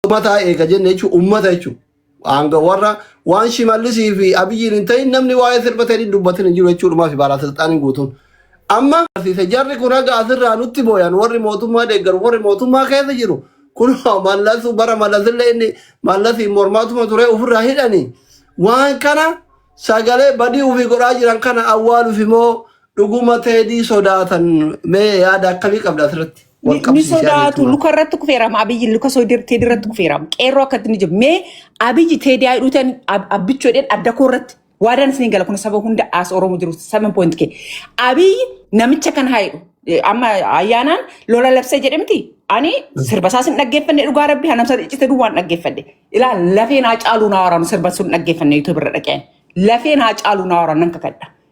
Uummataa eega jenne jechuun uummata jechuun hanga warra waan shimallisii fi abiyyiin hin ta'in namni waa'ee sirba ta'in hin dubbatin hin jiru jechuudhumaa fi baalaa silxaaniin guutuun. Amma barsiise jarri kun haga asirraa nutti booyan warri mootummaa deeggaru warri mootummaa keessa jiru kun mallasu bara mallasillee inni mallasiin mormaatuma ture ofirraa hidhanii waan kana sagalee badii ofii godhaa jiran kana awwaaluuf immoo dhuguma teedii sodaatan mee yaada akkamii qabda asirratti? wal Ni qabsiisee sodaatu jechuudha. luka irratti kufeerama abiyyi luka soodii teedii irratti kufeerama qeerroo akkatti ni jiru mee abiyyi teedii haa hidhuutan abbichuu jedheen adda koo irratti waadaan isin gala kun saba hunda as oromoo jiru seven point kee abiyyi namicha kan haa hidhu Eh, amma ayyaanaan lola labsee jedhe miti ani sirba isaas hin dhaggeeffanne dhugaa rabbi hanamsa iccite duwwaan dhaggeeffanne ilaa lafeen haa caaluu naa waraanu sirba sun dhaggeeffanne yuutuub irra dhaqeen lafeen haa caaluu naa waraanu nan kakadha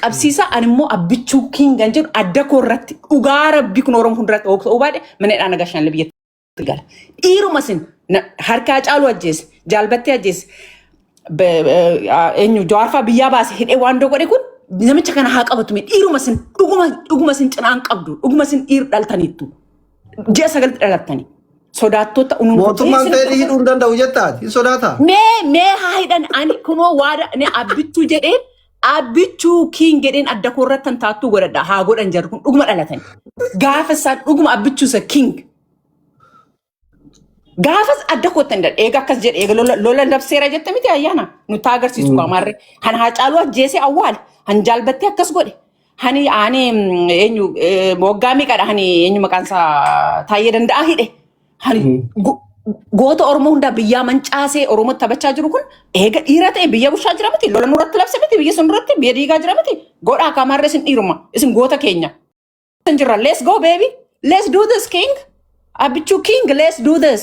qabsiisa ani immoo abbichuu kiingan jedhu adda koo irratti dhugaa rabbi kun oromoo hunduratti hoogta hubaadhe mana hidhaa nagaa shanle biyyatti gala dhiiruma sin na- harkaa caaluu ajjeese jaalbattee ajjeese be- eh, ah, eenyu jawaarfaa biyyaa baase hidhee waan dogodhe kun namicha kana haa qabatu mee dhiiruma sin dhuguma dhuguma sin cinaan qabdu dhuguma sin dhiir dhaltaniittu ji'a sagalti dhalattanii sodaattota unuun Mootummaan seelii hidhuu hin danda'u jettaati. Hin sodaataa? mee mee haa hidhan ani kunoo waada ne abbichuu jedhee Abbichuu kiin jedheen adda koo irratti kan taattuu godhadha. Haa godhan jarri kun dhuguma dhalatan. Gaafa isaan dhuguma abbichuu isa king. Gaafas adda kootti hin dadhe. Eega akkas jedhe eega lola lola labseera jette miti ayyaana. Nutti haa agarsiisu kaa maarree. Kan haa caaluu ajjeesee awwaale. Kan jaalbattee akkas godhe. Hani ani mm, eenyu eh, waggaa meeqadha hani eenyu maqaan isaa taayyee danda'aa hidhe. Kan go- goota Oromoo hundaa biyyaa mancaasee Oromoo taphachaa jiru kun eega dhiira ta'e biyya bulchaa jira miti. Lola nurratti labse miti. Biyya sun duratti biyya diigaa jira miti. Godhaa akka amaarra isin dhiiruma. Isin goota keenya. Isin jirra. Let's go baby. Let's do this king. Abichuu king. Let's do this.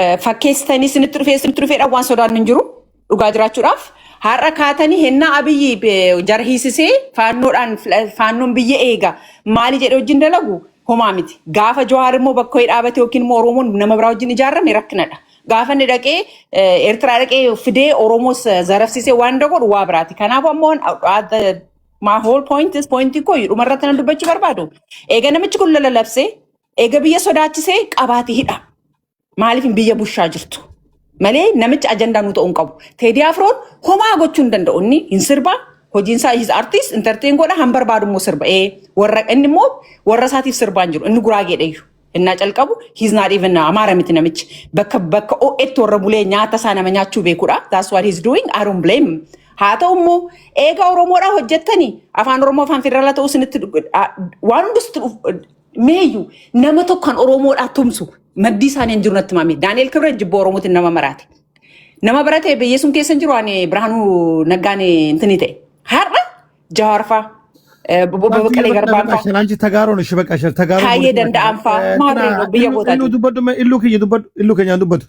eh, fakkeessitanii isinitti dhufee isinitti dhufeedha waan sodaan hin jiru dhugaa jiraachuudhaaf har'a kaatanii hennaa abiyyi eh, jara hiisisee faannoodhaan fila- faannoon biyya eega maali jedhe wajjin dalagu homaa miti gaafa jawaar immoo bakka wayii dhaabate yookiin immoo oromoon nama biraa wajjin ijaarame rakkinadha gaafa inni dhaqee eh, eertiraa dhaqee fidee oromoos eh, zarafsisee waan inni godhu waa biraati kanaaf ammoo at the- my whole point is point koo dhuma irratti nan dubbachuu barbaadu eega namichi kun lala labsee Eega biyya sodaachisee qabaati hidha. Maaliif hin biyya bushaa jirtu? Malee namichi ajandaa nu ta'uu hin qabu. Teedii Afroon homaa gochuu hin danda'u. Inni hin sirba. Hojiin isaa his artist entertain godha han barbaadu immoo sirba. Ee warra inni immoo warra isaatiif sirbaa hin jiru. Inni guraageedha iyyuu. Innaa calqabu he's not even amaara miti namichi. Bakka bakka OX warra bulee nyaata isaa nama nyaachuu beekudha. That's what he's doing. I don't blame him. Haa ta'u immoo eega Oromoodhaa hojjettanii afaan Oromoo afaan federaalaa ta'uu isinitti waan hundus Meeyyu nama tokko kan Oromoodhaa tumsu maddii isaanii hin jiru natti maamee. Daani'el Kibret jibba Oromootiin nama maraate. Nama barate biyyeessuun keessa hin jiru ani Birhaanuu Naggaan intini ta'e. Har'a Jawaarfaa Baqqalee Garbaanfaa Anchi Tagaaroon ishee bakka ishee Tagaaroon. Kaayyee danda'anfaa maal reefu biyya gootaati. Illu dubbadhu illu keenya dubbadhu illu keenyaan dubbatu.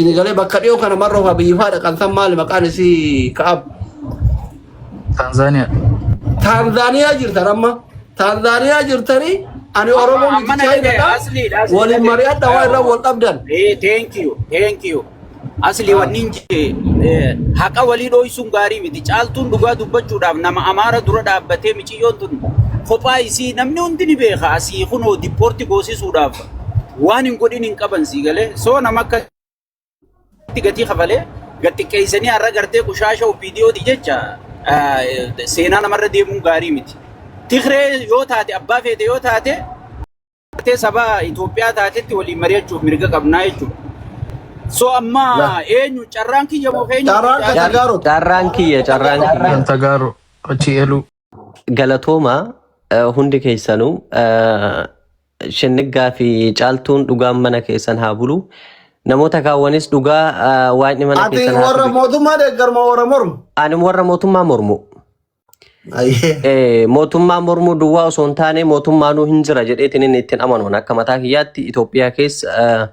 Isin galee bakka dhiyoo kana marroo faa biyyi faa dhaqan san maali maqaan isii ka'ab. Tanzania. Taanzaaniyaa jirtan amma. Taanzaaniyaa jirtanii ani Amma- Oromoo amma miti na dhagaye, Chaayinaadha. asliidha, asliidha. Waliin mari'adha waa irra wal dhabdan. Eh, thank you, thank you. Asli wannin jee eh, haqa walii dhooysuun gaarii miti. Caaltuun dhugaa dubbachuudhaaf nama amaara dura dhaabbatee miciyyoon tun kophaa isii namni hundi ni beeka asii kunoo dippoorti goosisuudhaaf Waan hin godhin hin qaban sii galee soo nama akka itti gatii kafalee gad xiqqeessanii har'a gartee qushaasha OPDOti jecha ah, seenaa namarra deemuun gaarii miti. Tigree yoo taate abbaa feete yoo taate gartee saba Itoophiyaa taatetti waliin mari'achuuf mirga qabnaa jechuudha. So amma La. eenyu carraan kiyya moo eenyu Carraan kan Car- Tagaaroti. Carraan kiyya, carraan kiyya. Kan Tagaaro achi eluu. Galatooma eh, hundi keessanuu eh, shinniggaa fi caaltuun dhugaan mana keessan haa bulu. Namoota kaawwanis dhugaa eh, waaqni mana Ati keessan haa warra bulu. mootummaa deeggarma warra mormu. Ani warra mootummaa mormu. Ayyee. Eh, Mootummaa mormuu duwwaa osoo hin taane mootummaanuu hin jira jedheetiin inni ittiin amanuun akka mataa kiyyaatti Itoophiyaa keessa eh,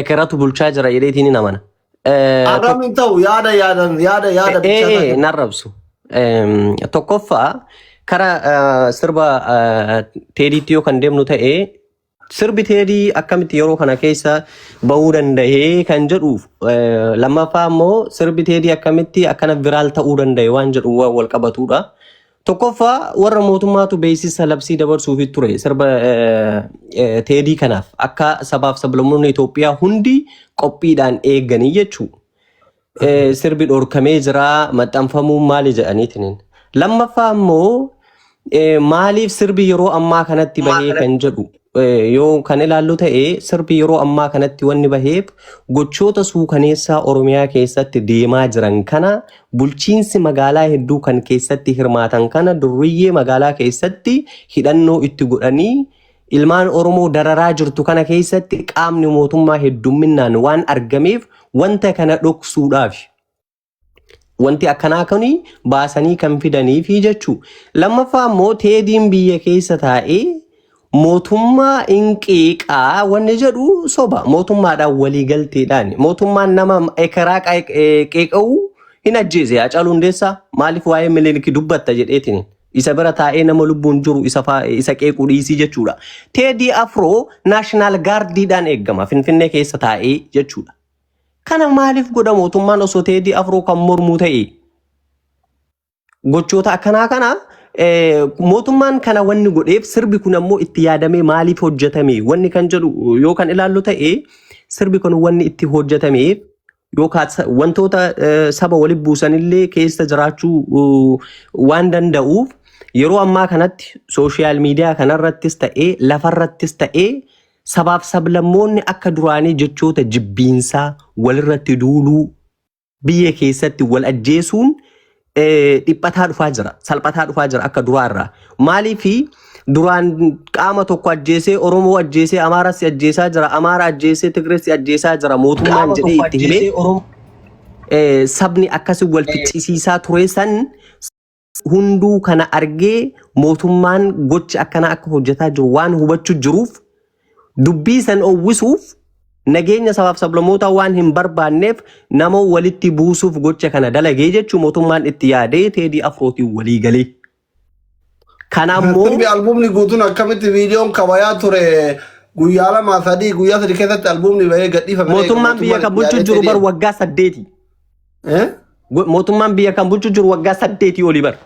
ekeratu bulchaa jira jedheetiin hin amana. Eh, Arrabni tok- hin ta'u yaada yaadan yaada yaada eh, bilchaataa eh, kenna. hin arrabsu. Em, Tokkoffaa kara eh, sirba eh, teediitti yoo kan deemnu ta'e sirbi teedii akkamitti yeroo kana keessa bahuu danda'ee kan jedhu eh, lammaffaa immoo sirbi teedii akkamitti akkana viraal ta'uu danda'e waan jedhu waan wal qabatudha. Tokkoffaa warra mootummaatu beeksisa labsii dabarsuuf ture sirba eh, eh, teedii kanaaf akka sabaaf sablammoonni Itoophiyaa hundi qophiidhaan eeganii jechuu eh, sirbi dhorkamee jira maxxanfamuun maali jedhaniitiin. Lammaffaa immoo eh, maaliif sirbi yeroo ammaa kanatti bahee kan jedhu eh, yoo kan ilaallu ta'e sirbi yeroo ammaa kanatti wanni baheef gochoota suukaneessaa Oromiyaa keessatti deemaa jiran kana bulchiinsi magaalaa hedduu kan keessatti hirmaatan kana durriyyee magaalaa keessatti hidhannoo itti godhanii ilmaan Oromoo dararaa jirtu kana keessatti qaamni mootummaa heddumminaan waan argameef wanta kana dhoksuudhaafi. Wanti akkanaa kun baasanii kan fidaniifi jechuu. Lammaffaa immoo teediin biyya keessa taa'ee mootummaa inqiiqaa wanni jedhu soba. Mootummaadhaan waliigalteedhaan. Mootummaan nama ekeraa qeeq- eh, qeeqa'u hin ajjeese. Hacaaluu Hundeessaa maaliif waa'ee Minilik dubbatta jedheetiin. Isa bira taa'ee nama lubbuun jiru isa, faa- isa qeequu dhiisii jechuudha. Teedii Afroo naashinaal gaardiidhaan eegama Finfinnee keessa taa'ee jechuudha. Kana maaliif godha mootummaan osoo Teedii Afroo kan mormuu ta'e? Gochoota akkanaa kana eh, mootummaan kana wanni godheef sirbi kun ammoo itti yaadamee maaliif hojjetame wanni kan jedhu yoo kan ilaallu ta'e sirbi kun wanni itti hojjetameef yookaan sa- wantoota eh, saba walitti buusanillee keessa jiraachuu uh, waan danda'uuf yeroo ammaa kanatti sooshiyaal miidiyaa kanarrattis ta'ee lafarrattis ta'ee Sabaaf sablammoonni akka duraanii jechoota jibbiinsaa, walirratti duuluu, biyya keessatti wal ajjeesuun dhiphataa dhufaa jira, salphataa dhufaa jira akka duraa irraa. Maaliif duraan qaama tokko ajjeesee, Oromoo ajjeesee, Amaaras ajjeesaa jira, Amaara ajjeesee, Tigrees ajjeesaa jira, mootummaan jedhee itti himee sabni akkasii wal ficcisiisaa ture san hunduu kana argee mootummaan gocha akkanaa akka hojjetaa jiru waan hubachuu jiruuf dubbii san owwisuuf nageenya sabaaf sablammootaa waan hin barbaanneef nama walitti buusuuf gocha kana dalagee jechuu mootummaan itti yaadee teedii afrootiin walii galee. Kana immoo Sirbi albuumni guutuun akkamitti viidiyoon kabayaa ture guyyaa lama sadii guyyaa sadii keessatti albuumni bahee gadhiifame. mootummaan biyya kan bulchuu jiru bar waggaa saddeeti. Eh? Go- Mootummaan biyya kan bulchu jiru waggaa saddeetii olii bara.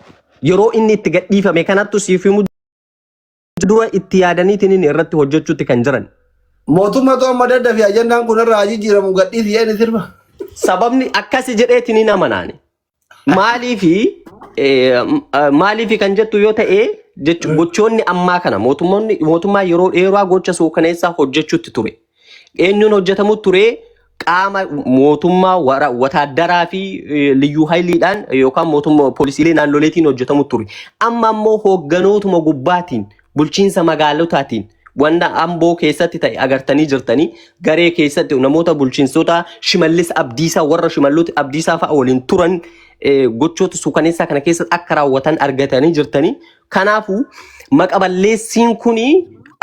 Yeroo inni itti gadhiifame kanattu siif himuu dura itti yaadaniitiin inni irratti hojjechuutti kan jiran. Mootummatu amma daddafi ajandaan kun irraa jijjiiramu gadhiisi jedhani sirba. Sababni akkasi jedheetiin hin amanaani. Maaliifi eh, m- eh, maaliifi kan jettu yoo ta'e jechu- gochoonni ammaa kana mootummoonni mootummaa yeroo dheeraa gocha suukaneessaa hojjechuutti ture. Eenyuun hojjetamu ture? Qaama mootummaa wara- wataaddaraa fi eh, liyyuu hayiliidhaan yookaan mootummaa poolisiilee naannoleetiin hojjetamu ture. Amma ammoo hoogganootuma gubbaatiin bulchiinsa magaalotaatiin wanna amboo keessatti ta'e agartanii jirtanii garee keessatti namoota bulchiinsota shimallis abdiisaa warra shimalloota abdiisaa fa'a waliin turan eh, gochoota suukaneessaa kana keessatti akka raawwatan argatanii jirtanii Kanaafuu maqa balleessiin kuni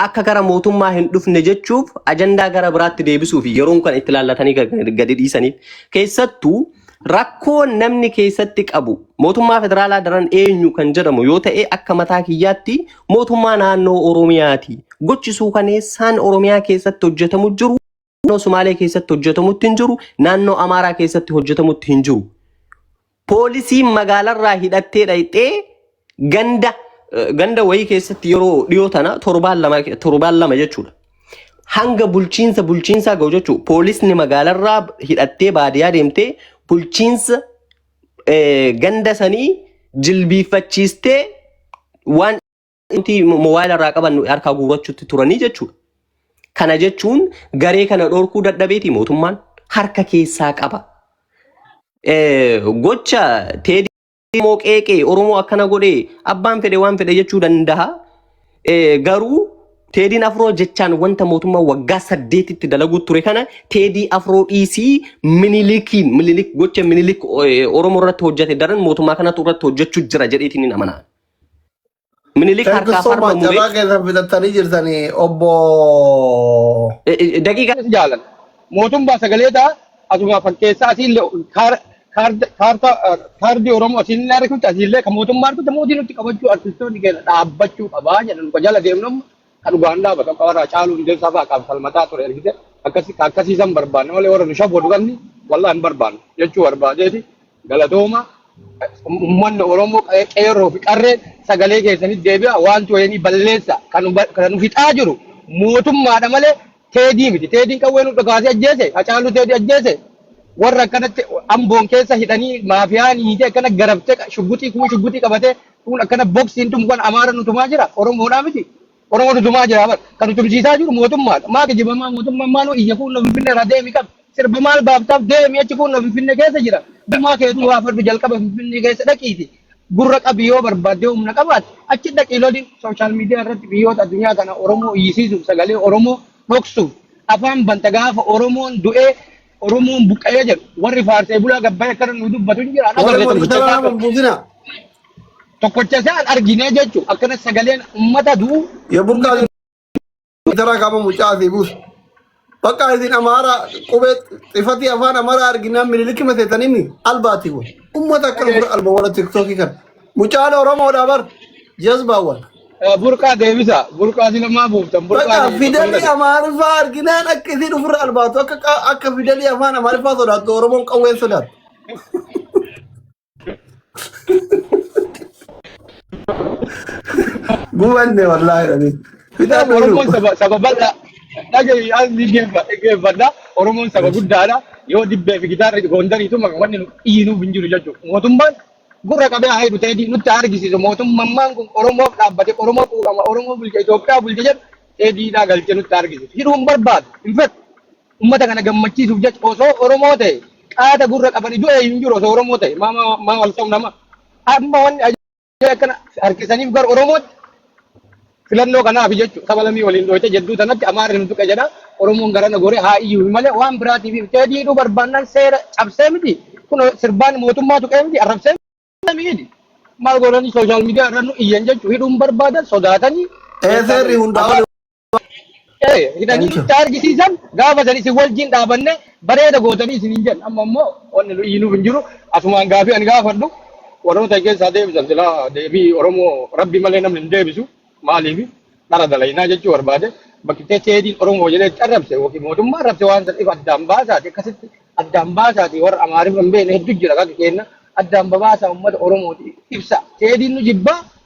akka gara mootummaa hin dhufne jechuuf ajandaa gara biraatti deebisuuf yeroon kan itti laallatanii gad- gadi dhiisaniif keessattuu rakkoo namni keessatti qabu mootummaa federaalaa daran eenyu kan jedhamu yoo ta'e akka mataa kiyyaatti mootummaa naannoo Oromiyaati. Gochisuu kaneessaan Oromiyaa keessatti hojjetamu jiru naannoo Sumaalee keessatti hojjetamutti hin jiru, naannoo Amaaraa keessatti hojjetamutti hin jiru. Poolisiin magaalarraa hidhattee dhaqxee ganda eh, ganda wayii keessatti yeroo dhiyoo tana torbaan lama torbaan lama jechuudha. Hanga bulchiinsa bulchiinsaa ga'u jechuudha. Poolisni magaalarraa hidhattee baadiyyaa deemtee bulchiinsa eh, ganda sanii jilbiiffachiistee waan inti moobaayila irraa qaban harkaa guurachuutti turanii jechuudha. Kana jechuun garee kana dhorkuu dadhabeeti mootummaan harka keessaa qaba. Eh, Gocha teedii Oromoo qeeqee Oromoo akkana godhee abbaan fedhe waan fedhe jechuu danda'a. Eh, Garuu teediin afroo jechaan wanta mootummaa waggaa saddeetitti dalaguu ture kana teedii afroo dhiisii minilikiin minilik gocha minilik eh, Oromoo irratti hojjete daran mootummaa kanatu irratti hojjechuu jira jedheetiin hin amanaa. Minilik Thank you harkaa so farma much. muree Carraa keessan fixattanii jirtanii obbo eh, eh, daqiiqaa Kunis jaalan. Mootummaa sagalee ta'a asuma fakkeessaa asiillee kaar- kaard- kaartaa eh, kaardii Oromoo asiillee argisiisa asiillee kan mootummaa argisiisa mootii nutti qabachuu artistoonni keenya dhaabbachuu qabaa jedhan kan jala deemnu amma Ka dhugaan dhaabatan ka warra Hacaaluu Hundeessaa fa'a kan falmataa ture ergite akkasi ka akkasii san barbaanne malee warra nu shabboodu kanni wallah hin barbaanne jechuu barbaadeeti galatooma ummanni Oromoo qe- qeerroo fi qarreen sagalee keessanitti deebi'a wanti wayinii balleessa kan nu ba- kan nu fixaa jiru mootummaadha malee Teedii miti. Teediin qawwee nu dhukaasee ajjeese. Hacaaluu teedii ajjeese. Warra akkanatti amboon keessa hidhanii maafiyaan hiitee akkana garabtee qa- shugguxii kuun shugguxii qabatee kuun akkana boksiin tun kan amaara nu tumaa jira. Oromoodhaa miti. Oromoo nu tumaa jira. bar. Kan nu tumsiisaa jiru mootummaadha. Maa kijibamaa mootummaan maaloo iyya kuun nu finfinnee irraa deemi qabi. sirba maal baaftaaf deemi achi kun finfinne keessa jira gumaa keetu waa fadhu jalqaba finfinnee keessa dhaqiiti gurra qabi yoo barbaadde humna qabaate achi dhaqi loli sooshaal miidiyaa irratti biyyoota addunyaa kana oromoo iyyisiisuuf sagalee oromoo dhoksuuf afaan banta gaafa oromoon du'ee oromoon buqqa'ee jedhu warri faarsee bulaa gabbayee akkana nu dubbatu hin jiraan Warra agarree mootummaa tokkicha isaa kanaa buusina. tokkicha isaan arginee jechuudha akkana sagaleen uummata du'u Yoo burqaa Itara kaba mucaa asii buusu. Bakka isin amaara qubee xifatii afaan amaara arginaan mililikki maseetanii mi albaati kun. Ummata akka dhufu alba warra tiktookii kan. Mucaan Oromoodha bar jazbaawwan. Burqaa deebisa. Burqaa si lamaa buuftan. Burqaa Bakka deebisa. fidelli Fayyada. amaariffaa arginaan akka isin ofirra albaatu akka qa- akka fidelli afaan amaariffaa sodaattu Oromoon qawween sodaattu. Gubanne wallaahi dhanii. Fidaa Kitaaba Oromoon fayyadu. saba saba bal'aa dhagahi as ni geeffadha. Oromoon saba guddaadha. Yoo dibbee fi gitaarri goondariitu maka wanni nu dhiinuuf hin jiru jechuudha. Mootummaan gurra qabee haa hidhu ta'ee nutti haa argisiisu. Mootummaan kun Oromoof dhaabbate Oromoo quuqama Oromoo bulcha Itoophiyaa bulcha jedhu ta'ee diinaa galchee nutti haa argisiisu. Hidhuu hin barbaadu hin fedhu. Ummata kana gammachiisuuf jecha osoo Oromoo ta'e qaata gurra qabanii du'e hin jiru osoo Oromoo ta'e maa maa maa wal sobna maa. Amma wanni ajaa'iba akkana harkisaniif gara Oromootti filannoo kanaaf jechuudha. Saba lamii waliin dhooyte jedduu tanatti Amaarri nu tuqe jedha. Oromoon garana gore haa iyyuu malee waan biraatiif hin ta'e diiduu barbaannaan seera cabsee miti. Kun sirbaan mootummaa tuqee miti arrabsee miti. Maal godhanii sooshaal miidiyaa irra nu iyyan jechuudha. Hidhuun barbaadan sodaatanii Ee keessaa seerri ba'u. hundaa Abbaa oli ta'e hidhanii Thank you. itti argisiisan gaafa san isin wajjin dhaabanne bareeda gootanii isin hin jedhu amma immoo wanni nu iyyinuuf hin jiru asumaan gaafii ani gaafadhu warroota keessaa deebisan silaa deebii oromoo rabbi malee namni hin deebisu maaliif dhara dalaynaa jechuu barbaade bakki teecheediin oromoo jedhee itti arrabse yookiin mootummaa arrabse waan san if addaan baasaati akkasitti addaan baasaati warra amaariif hin beekne hedduu jira kan kenna addaan babaasaa uummata oromooti ibsa teediin nu jibbaa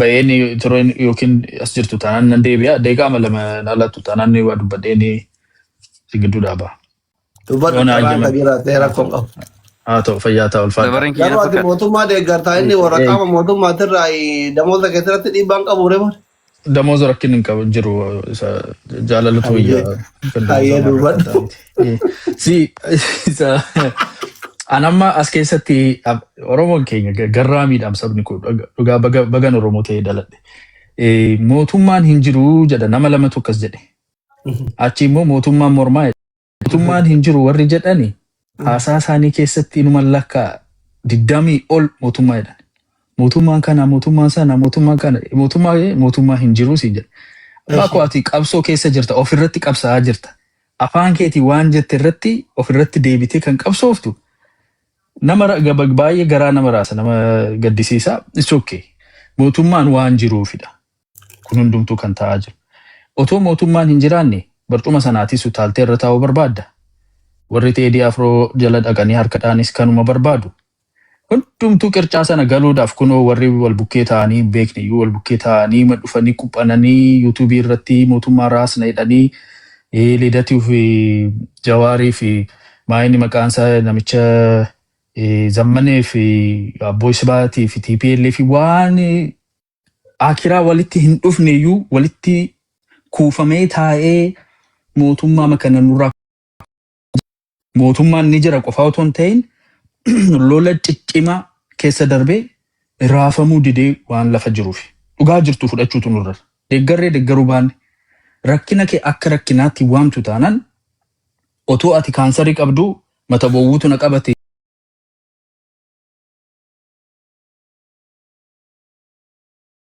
Bayeen tureen yookiin as jirtu taanaan nan deebi'a. Deeqaama lama na laattu taanaan ni waa dubbadhee ni si gidduu dhaaba. Dubbadhu Yoona carraan ajjame. kan jiraatee rakkoo hin qabu. Haa ta'u fayyaa ta'a ulfaadha. Dabareen kiyya Garuu ati fakkaata. mootummaa deeggartaa inni warra Eh, eh. qaama mootummaatirraa damoota keessatti dhiibbaa hin qabu rebar. Damooza rakkin hin qabu jiru isa jaalalatu Hayyee wayya kan damooza hayyee maarra kan dubbadhu. ta'aniti. Eh, Si isa an amma as keessatti ab- Oromoon keenya ga- garraa miidhaam sabni kun dhug- dhugaa baga- bagan Oromoo ta'ee dhaladhe. Eh, Mootummaan hin jiru jedha nama lamatu akkas jedhe. Achi immoo mootummaan mormaa jedhe. Mootummaan hin jiru warri jedhani haasaa isaanii keessatti inuma lakka digdamii ol mootummaa jedhan. Mootummaan kana mootummaan sana mootummaan kana mootummaa mootummaa hin jiru siin jedha. Abbaa koo ati qabsoo keessa jirta ofirratti qabsaa'aa jirta. Afaan keetiin waan jette irratti of irratti deebitee kan qabsooftu nama ra- gaba- baay'ee garaa nama raasa nama gaddisiisa. It's okay. Mootummaan waan jiruufidha. Kun hundumtuu kan ta'aa jiru. Otoo mootummaan hin jiraanne barcuma sanaatis utaaltee irra taa'uu barbaadda. Warri Teedii Afroo jala dhaqanii harkadhaanis kanuma barbaadu. Hundumtuu qircaa sana galuudhaaf kunoo warri wal bukkee taa'anii hin beekne iyyuu wal bukkee taa'anii ma dhufanii quphananii yuutuubii irratti mootummaa raasna jedhanii eh, Lidatii fi Jawaarii fi maa inni maqaan isaa namicha eh, Zammanee fi Abboo Isbaatii fi TPLF fi waan akiraa walitti hin dhufne iyyuu walitti kuufamee taa'ee mootummaa makana nurraa mootummaan ni jira qofaa otoo hin ta'in lola ciccimaa keessa darbee raafamuu didee waan lafa jiruuf dhugaa jirtu fudhachuutu nurra deeggarree deeggaruu baanne rakkina kee akka rakkinaatti waamtu taanaan otoo ati kaansarii qabduu mata bowwuutu na qabate